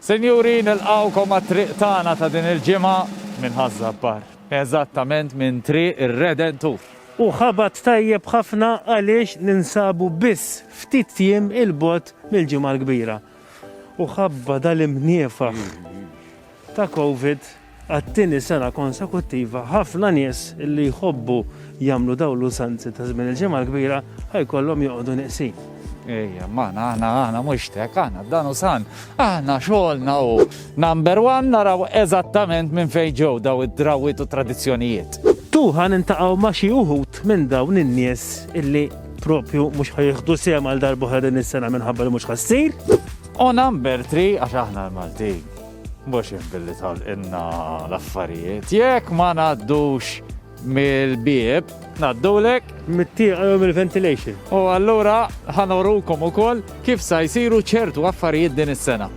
Sinjuri, nilqgħukom għat-triq tagħna ta' din il-ġimgħa minn Ħaż-Żabbar. Eżattament minn Triq ir-Redentur. U ħabat tajjeb ħafna għaliex ninsabu biss ftit jiem 'il bogħod mill-Ġimgħa l-Kbira. U ħabba dal-imniefaħ ta' Covid, Għat-tieni sena konsekuttiva, ħafna nies li jħobbu jagħmlu dawn l-użanzi ta' żmien il-Ġimgħa l-Kbira ħa jkollhom joqogħdu nieqsin. Ejja, magħna aħna aħna mhux tek, aħna dan u san, aħna xogħolna u number one naraw eżattament minn fejn ġew daw id-drawwiet u tradizzjonijiet. Tuħa nintaqgħu ma' xi uħud minn dawn in-nies illi propju mhux ħa jieħdu sehem għal darba oħra din is-sena minħabba li mhux ħa ssir. U number three għax aħna l-Maltin. Mhux jien billi tagħlqilna l-affarijiet. Jekk ma ngħaddux mill-bieb, ngħaddulek mit-tieqa jew mill-ventilation. U allura ħanorukom ukoll kif sa jsiru ċertu affarijiet din is-sena.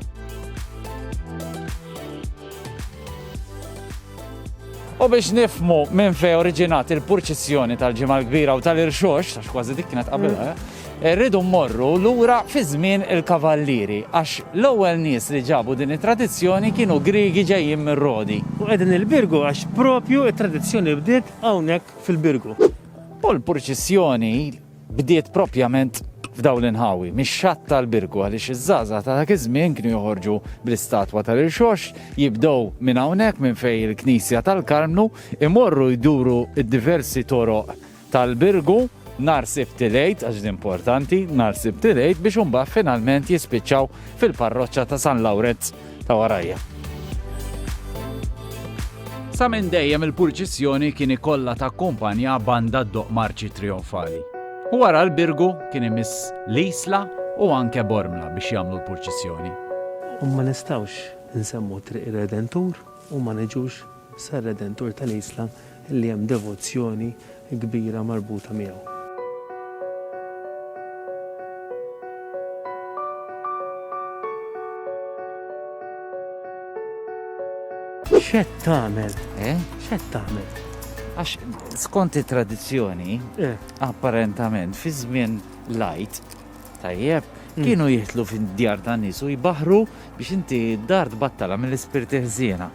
U biex nifmu minn fej oriġinat il-purċissjoni tal-ġimgħa l-kbira u tal-irxox, għax kważi dik kienet qabel, eh? Irridu mmorru lura fi żmien il-kavallieri għax l-ewwel nies li ġabu din it-tradizzjoni kienu Griegi ġejjin mir-Rodi. U qegħdin il-Birgu għax propju t-tradizzjoni bdiet hawnhekk fil-Birgu. U l-purċissjoni bdiet propjament f'dawn l-inħawi, mix-xatt tal-Birgu għaliex iż-żgħażagħ ta' dak iż-żmien kienu joħorġu bl-istatwa ta' l-Irxoxt, jibdew minn hawnhekk minn fejn il-knisja tal-Karmnu, imorru jduru d-diversi toroq, tal-Birgu nhar Sibt il-Għid, għax din importanti, nhar Sibt il-Għid biex imbagħad finalment jispiċċaw fil-parroċċa ta' San Lawrenz ta' Warajja. Sa minn dejjem il-purċissjoni kien ikollha takkumpanja banda d-doq marċi trijonfali. U wara l-Birgu kien imiss l-Isla u anke Bormla biex jagħmlu l-purċissjoni. U ma nistgħux insemmu Triq ir-Redentur u ma niġux sar-Redentur tal-Isla li hemm devozzjoni kbira marbuta miegħu. X'qed tagħmel? Eh? X'qed tagħmel? Għax skont it-tradizzjoni, eh. apparentament fi żmien lajt, tajjeb, mm. kienu jitlu fin-djar ta' nisu jbaħru biex inti d-dar tbattala mill-ispirti ħżiena.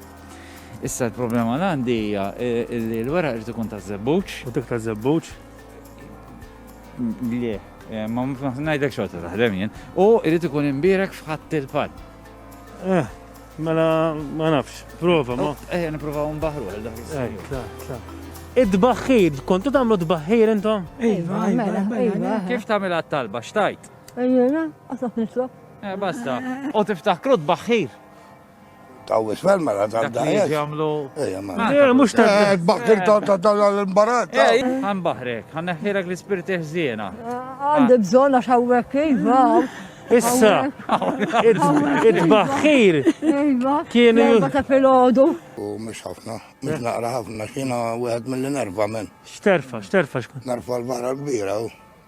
Issa l-problema l għandi hija eh, li l-weraq irid ikun ta' żebbuġ. U dik ta' żebbuġ? Le, eh, ma ngħidlek xorta taħdem jien. U irid ikun imbierek f'ħadd il-fatt. Eh, mela ma nafx, prova ma. Oh, eh, nipprova nbaħru għal dak. Eh, Id-dbaħħir, kontu tagħmlu dbaħħir intom? Iva, iva, iva, iva, iva. Kif tagħmilha t-talba xtajt? Ejjena, għasaf nitlob. Eh, basta. U tiftaħ krut baħħir. Tawis fel mela ta' Dak li jagħmlu. Ejja ma. Eh, mhux ta' eh, bakkir ta' ta' ta' l-imbarat. Eh, Għan baħrek, għan neħħilek l-ispirti ħżiena. Għandi bżonn għax hawnhekk iva. Issa, it-baħħir iva, kien il- ta' filgħodu. U mhux ħafna, mhux naqra ħafna xina wieħed mill-li nerfa' minn. X'terfa, x'terfa xkun. Nerfa' l-barra kbira u.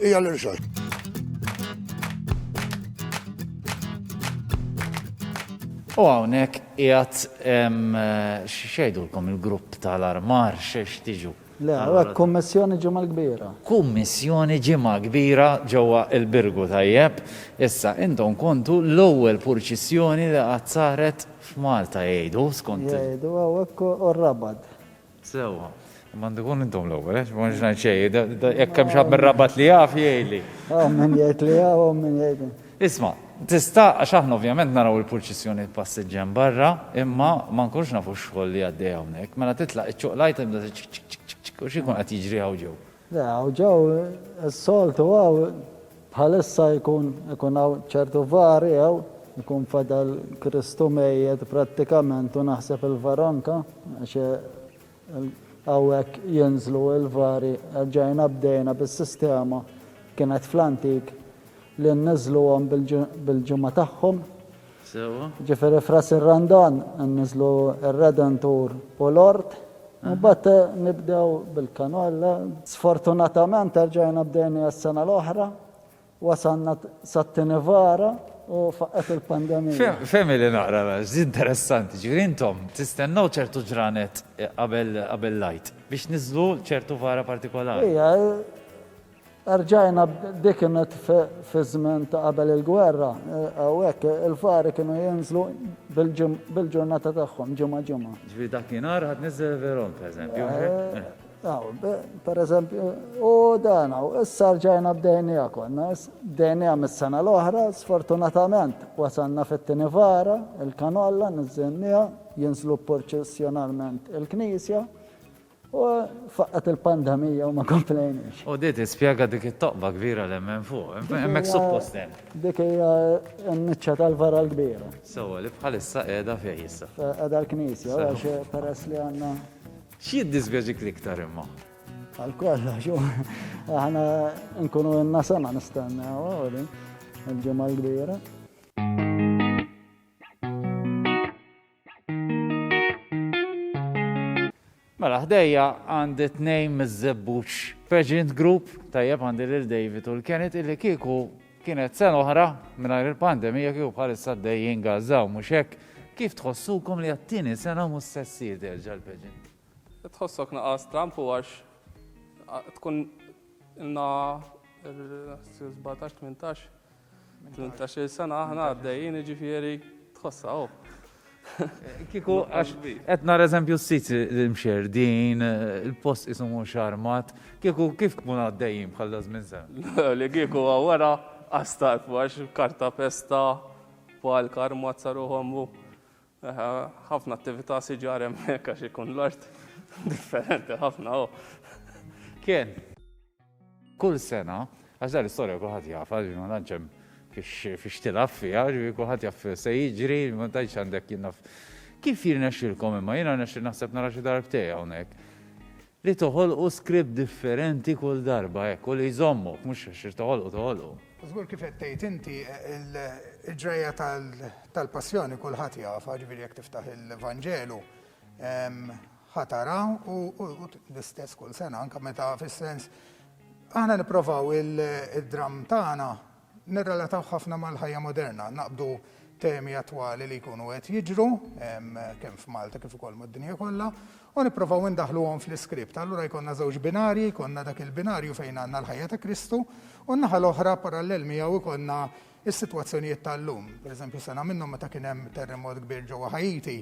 Hija l-irxad. U għawnek jgħat xejdulkom il-grupp tal-armar xex tiġu. Le, għawek kommissjoni ġimma l-kbira. Kommissjoni ġimma kbira ġewwa il-birgu tajjeb. Issa, intom kontu l-ewwel purċissjoni li għad saret f'Malta jgħidu, skont. Jgħidu għawek u rabad. Sewwa, imma għandu jkun intom l-ewwel, għax ma nix ngħid xejn, jekk hemm xi ħadd mir-Rabat li jaf jgħidli. Hawn min jgħid li jaf, hawn min jgħid. Isma', tista', għax aħna ovvjament naraw il-purċissjoni tpass il-ġenb barra, imma ma nkunux nafu x-xogħol li għaddej hawnhekk, mela titlaq iċ-ċuqlajta tibda tgħid ċik ċik ċik ċik ċik u xi jkun qed jiġri hawn ġew. Le, hawn ġew is-soltu hawn bħalissa jkun ikun hawn ċertu vari hawn, ikun fadal Kristu mejjet prattikament u naħseb il-Varonka għax hawnhekk jinżlu l-vari erġajna bdejna bis-sistema kienet fl-antik li nniżluhom bil-ġimgħa tagħhom Sewwa. Jiġifieri f'ras ir-Randan inniżlu r-Redentur u l-Ord, imbagħad nibdew bil-Kanolla. Sfortunatament erġajna bdejniha s-sena l-oħra, wasalna sat-tieni vara u faqqgħet il-pandemija. Fehmi li naqra, għax interessanti, jiġifieri intom tistennew ċertu ġranet qabel l-Għid biex tniżżlu ċertu vara partikolari. Ija. Erġajna dik kienet fiż-żmien ta' qabel il-gwerra. Hawnhekk il-fari kienu jinżlu bil-ġurnata tagħhom, ġimgħa ġimgħa. Ġifieri dak li nhar ħadd niżżel il-Veyron, pereżempju, hekk? Aw, pereżempju, u dan hawn, issa rġajna bdejniha konna, bdejniha mis-sena l-oħra, sfortunatament wasalna fit-tieni vara, il-kanolla niżżilniha, jinżlu purċissjonalment il-knisja, U faqqat il-panda mija u ma komplejniex. U di tispjega dik it-toqba kbira li hemm fuq. Hemmhekk suppost hemm. Dik hija n-niċċa tal-vara l-kbira. Sewwa li bħalissa qiegħda fejn issa? Qiegħda l-knisja, għax peress li għandna. X'jiddispjaġik l-iktar imma? Għal kollox, aħna nkunu inna sena nistennew, għoli, il-ġimgħa l-kbira. Mela ħdejja għandi tnejn miż-żebbuġ pageant group, tajjeb għandi lil David u l-Kenneth illi kieku kienet sena oħra mingħajr il-pandemija kieku bħalissa għaddejjin Gażżaw mhux hekk? Kif tħossukom li għat-tieni sena mhux se ssir terġa' l-pageant? Tħossok naqa' stramb u għax tkun ilna 17-18 Tmintax-il sena aħna għaddejjin jiġifieri tħossha hu. Kieku għax qed nara eżempju s-sit l-imxerdin, il-post qisu mhux armat, kieku kif kmunu għaddejjin bħal da żmien sena? Li kieku hawn wara qas tarfu għax karta pesta, palk armat sa ruħhom u ħafna attività siġar hemmhekk għax ikun l-art differenti ħafna hu. Ken. Kull sena, għax dan l-istorja kulħadd jafha, ma tantx hemm fiex tilgħab fiha, ġifieri kulħadd jaf se jiġri, ma tantx għandek jien naf. Kif jirnexxilkom imma, jiena rnexxil naħseb nara xi darbtej hawnhekk, li toħolqu script differenti kull darba hekk u li jżommok, mhux għax irid toħolqu toħolqu. Żgur kif qed tgħid inti, il-ġrajja tal-Passjoni kulħadd jafha, ġifieri jekk tiftaħ il-Vanġelu, Ħa tara, u l-istess kull sena, anke meta fis-sens, aħna nipprovaw id-dramm tagħna nirrelatawh ħafna mal-ħajja moderna, naqbdu temi attwali li jkunu qed jiġru, kemm f'Malta kif ukoll mad-dinja kollha, u nipprovaw indaħħluhom fl-iskript. Allura jkollna żewġ binarji, jkollna dak il-binarju fejn għandna l-ħajja ta' Kristu, u n-naħa l-oħra parallel miegħu jkollna Is-sitwazzjonijiet ta' llum, pereżempju sena minnhom meta kien hemm terremot kbir ġewwa Ħaiti,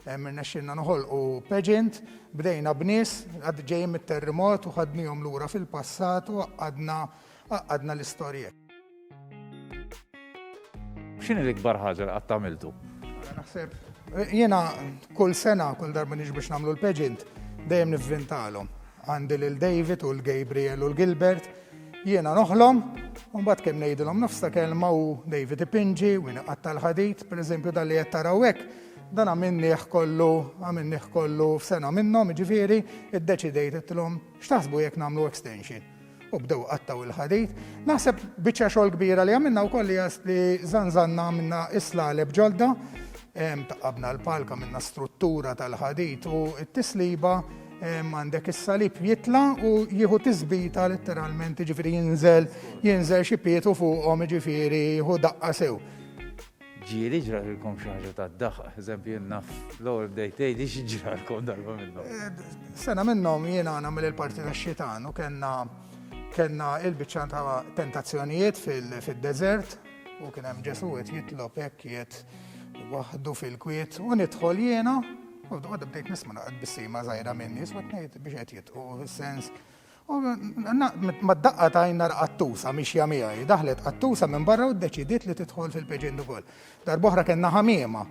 irnexxielna noħolqu pageant, bdejna b'nies għad ġejjin mit-terremot u ħadnihom lura fil-passat u għaqqadna għaqqadna l-istorjet. X'inhi l-ikbar ħaġa li qatt għamiltu? Naħseb jiena kull sena kull darba niġi biex nagħmlu l-pageant dejjem nivvintalhom. Għandi lil David u l-Gabriel u l-Gilbert Jiena noħlom, u mbagħad kemm ngħidilhom nofs ta' kelma u David ipinġi u jniqatta' l-ħadid, pereżempju dan li qed taraw hekk, dan għamilnieh kollu, għamilnieh kollu f'sena minnhom, jiġifieri iddeċidejt għedtilhom x'taħsbu jekk nagħmlu extension? U bdew iqattgħu il-ħadid. Naħseb biċċa xogħol kbira li għamilna wkoll hija li żanżanna għamilna islaleb ġodda, taqqabna l-palk għamilna struttura tal-ħadid u t-tisliba Għandek is-salib jitla u jieħu tisbita letteralment, ġifiri jinżel, jinżel xi pietu fuqhom, ġifiri jieħu daqqa sew. Ġieli ġralilkom xi ħaġa ta' daħq, eżempju naf l-ewwel bdejt tgħid xi ġralkom darba minnhom. Eh, sena minnhom jiena nagħmel il-parti tax-xitan u kellna kellna il-biċċa ta' tentazzjonijiet fil-deżert U kien hemm Ġesu qed jitlob hekk qiegħed waħdu fil-kwiet u nidħol jiena u għadda bdejt nisma' naqgħod bissima żgħira minni sweq ngħid biex qed jitqu sens. U ma daqqa tajna qattusa mixja miegħi, daħlet qattusa minn barra u ddeċidiet li tidħol fil-peġin ukoll. Darboħra kellna ħamiema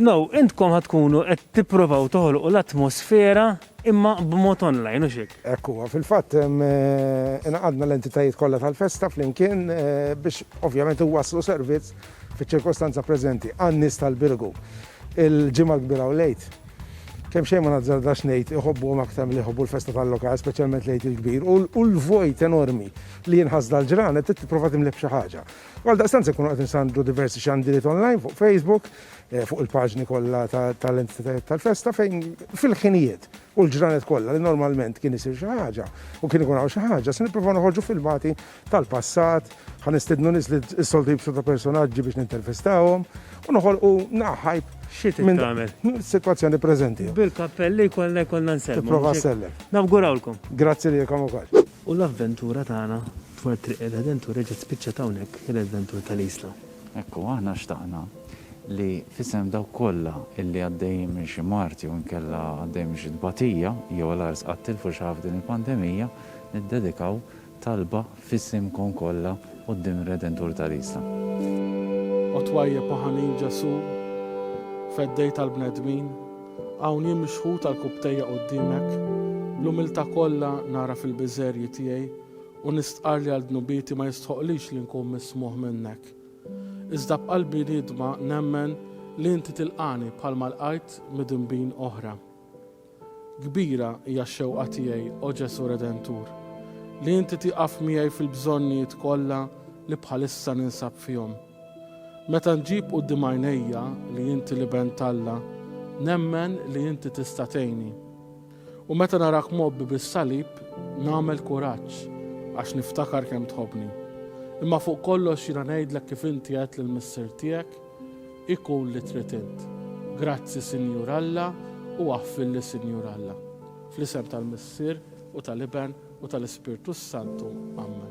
No, intkom ħa tkunu qed tipprovaw toħolqu l-atmosfera imma b'mod online, hux hekk? Hekk huwa. Fil-fatt, ingħaqadna l-entitajiet kollha tal-festa flimkien biex ovvjament inwasslu servizz fiċ-ċirkostanza preżenti għan-nies tal-Birgu. Il-Ġimgħa l-Kbira u l-Għid, kemxejn ma nazzardax ngħid, iħobbuhom aktar milli jħobbu l-festa tal-lokal, speċjalment l-Għid il-Kbir, u l-vojt enormi li jinħass dal-ġranet trid tipprova timlieh b'xi ħaġa. Għaldaqstant se nkunu qed insandru diversi xandiriet online fuq Facebook, fuq il-paġni kollha tal-entitajiet tal-festa fejn fil-ħinijiet u l-ġranet kollha li normalment kien isir xi ħaġa u kien ikun hawn xi ħaġa se nippruvaw noħorġu filmati tal-passat, ħa nistednu nies li s-soltu jibsu ta' personaġġi biex nintervistawhom u noħolqu naqħajb Xit minn tagħmel? Sitwazzjoni preżenti. Bil-kappelli kollha jkollna nsellmu. Tipprova sellem. Nawgurawlkom. Grazzi lilkom ukoll. U l-avventura tagħna dwar Triq ir-Redentur reġgħet spiċċat hawnhekk, ir-Redentur tal-Isla. Hekk hu, aħna xtaqna li f'isem dawk kollha illi għaddejjin minn xi mard jew inkella għaddejjin minn xi tbatija jew għal agħar sqatt tilfu xi ħadd f'din il-pandemija, niddedikaw talba f'isimkom kollha quddiem ir-Redentur tal-Isla. O twajjeb u ħanin Ġesù, feddej tal-bnedmin. Hawn jien mixħut għal kupptejja quddiemek, bl-umiltà kollha nagħraf il-biżerji tiegħi u nistqarr li għal dnubieti ma jistħoqqlix li nkun mismugħ minnek. Iżda b'qalbi niedma nemmen li inti tilqagħni bħalma lqajt midinbin oħra. Kbira hija x-xewqa tiegħi, O Ġesù Redentur, li inti tieqaf miegħi fil-bżonnijiet kollha li bħalissa ninsab fihom. Meta nġib quddiem għajnejja li inti l-Iben t'Alla, nemmen li inti tista' tgħinni. U meta narak mgħobbi bis-salib, nagħmel kuraġġ għax niftakar kemm tħobbni. Imma fuq kollox jiena ngħidlek kif inti għedt lill-Missier tiegħek, Ikun li trid int. Grazzi Sinjur Alla u aħfilli Sinjur Alla. Fl-isem tal-Missier u tal-Iben, u tal-Ispirtu s-Santu. Amen.